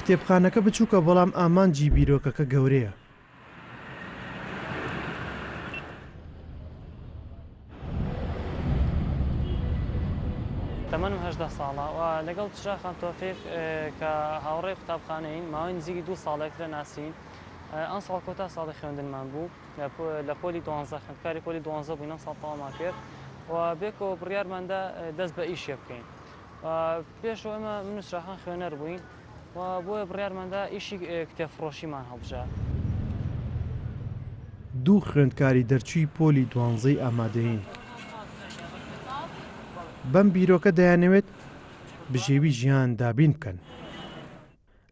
کتێبخانەکە بچووکە بەڵام ئامانجی بیرۆکەکە گەورەیە. تەمەنم هەژدە ساڵە و لەگەڵ چرا خان تۆفیق کە هاوڕێی قوتابخانەین ماوەی نزیکی دوو ساڵێکترە ناسین. ئەمساڵ کۆتا ساڵی خوێندنمان بوو. لە لە پۆلی دوانزە خوێندکاری پۆلی دوانزە بووین ئەم ساڵ تەوامان کرد و بێکەوە بڕیارماندا دەست بە ئیشێ بکەین پێشەوە ئەمە من نووسراخان خوێنەر بووین و بۆیە بڕیارماندا ئیشی کتێفڕۆشیمان هەڵبژە دوو خوێندکاری دەرچووی پۆلی دوانزەی ئامادەین بەم بیرۆکە دەیانەوێت بژێوی ژیان دابین بکەن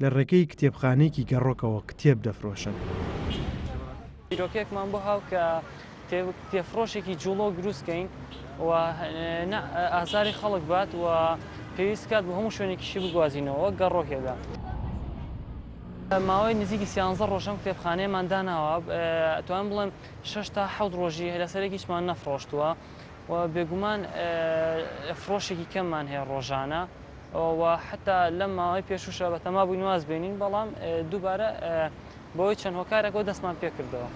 لە ڕێگەی کتێبخانەیەکی گەڕۆکەوە کتێب دەفرۆشن. بیرۆکەیەکمان بۆ هاو کە کتێبفرۆشێکی جوڵۆک دروست کەین و نە ئازاری خەڵک بات و پێویست کات بۆ هەموو شوێنێکیشی بگوازینەوە وەک گەڕۆکێکدا. ماوەی نزیکی سیانزە ڕۆژ ئەم کتێبخانەیەمان داناوە، ئەتوانم بڵێم شەش تا حەوت ڕۆژی لەسەر یەک هیچمان نەفڕۆشتووە و بێگومان فرۆشێکی کەممان هەیە ڕۆژانە. و حەتا لەم ماوەی پێشووشە بەتەما بووین واز بێنین، بەڵام دووبارە بەهۆی چەند هۆکارێکەوە دەستمان پێ کردەوە.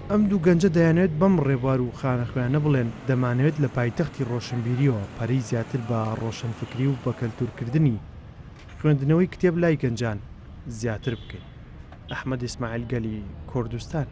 ئەم دوو گەنجە دەیانەوێت بەم ڕێبوار و خانەخوێنە بڵێن، دەمانەوێت لە پایتەختی ڕۆشنبیرییەوە پەرەی زیاتر بە ڕۆشنفکری و بەکەلتوورکردنی خوێندنەوەی کتێب لای گەنجان زیاتر بکەین. ئەحمەد ئیسماعیل گەلی کوردستان،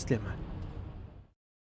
سلێمانی.